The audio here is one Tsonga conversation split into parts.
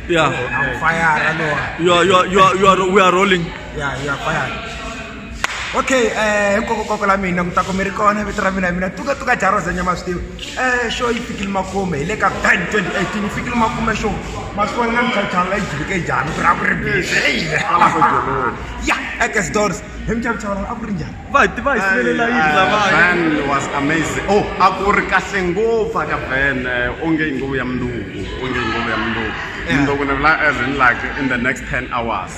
Yeah. I'm fired. I know. You are, you are, you are, you are, we are rolling. Yeah, you are fired. okay eh hinkwakokoko la mina mi ta ku mi ri kona vito ra mina hi mina tuka tuka jaroza nyama swi tivi eh xo yi fikile makume hi le ka ban 2018 yi fikile makume xo masiku ni nga mi chawuchawu la yi jivike njhani ku ri a ku ri bizi eyi ya ekes doors hi mi chawuchawu a ku ri njhani va ti va hi sivelela yini lavaya Van was amazing. Oh, a ku ri kahle ngopfu aka Van eh, onge i nguvu ya mundzuku, onge i nguvu ya mundzuku. Yeah. Mundzuku ni vula as in like in the next 10 hours.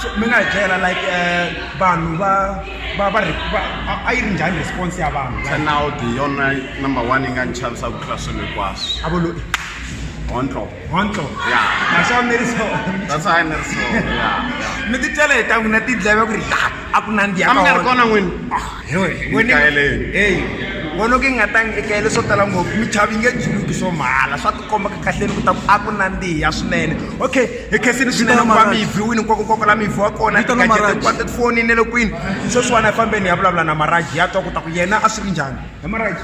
So, mi nga hi byela like eh, vanhu va va va re- va- a- a yi ri njhani response ya vanhu like, Turnout hi yona number one yi nga ni chavisa ku tlula swilo hinkwaswo. a vo lo Ontlo. hontlo ya that's how mary saw that's how mary saw ya mi ti tele ta n'wina ti dleve ku ri la a ku nandi ya kambe ri kona n'wini ah, wena hey wena ke nga tangi eka yele swo tala ngopfu mi chavi nge juluki swo mahala swa ti komba ka kahleni ku ta ku a ku nandiha swinene okay hi khensini swinene ku va mi yi viwini nkwako nkwako la mi viwa kona tikajete ku va tifonini le kwini sweswiwana hi fambeni hi ya vulavula na maraji ya twa ku ta ku yena a swi ri njhani hi maraji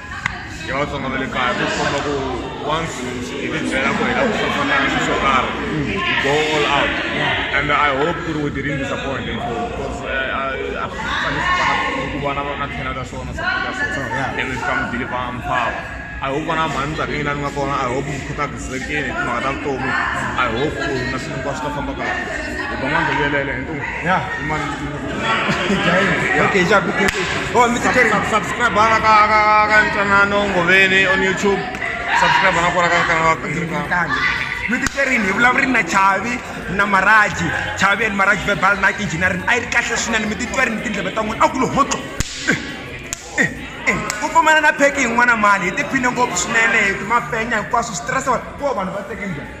ya vatsonga va le kaya ku komba ku once hi ti byela ku hi lava ku fafana xi xo karhi hi go all out and i hope ku ri we didn't disappoint him for because a fanele ku vana va nga tlhela ka swona support ya swona and we come deliver empower I hope vana mhani nkarhi leyi lani nga kona I hope mi khutazekile hi timhaka ta vutomi I hope ku na swilo hinkwaswo swi ta famba kahle hi va n'wana hi yelele hi ntungu ya okay cha bukete oh mr kerry subscribe bana ka ka ka ntwanano ngoveni on youtube subscribe bana kora ka kana ka miti kerini hi vulavuri na chavi na maraji chavi and maraji verbal night engineering a yi ri kahle swinene mi titwa ri ni tindleve ta n'wina a ku lo hotlo ku pfumana na pheki yin'wana mali hi tiphine ngopfu swinene hi mafenya hinkwaswo switirhisiwa ko vanhu va teke njhani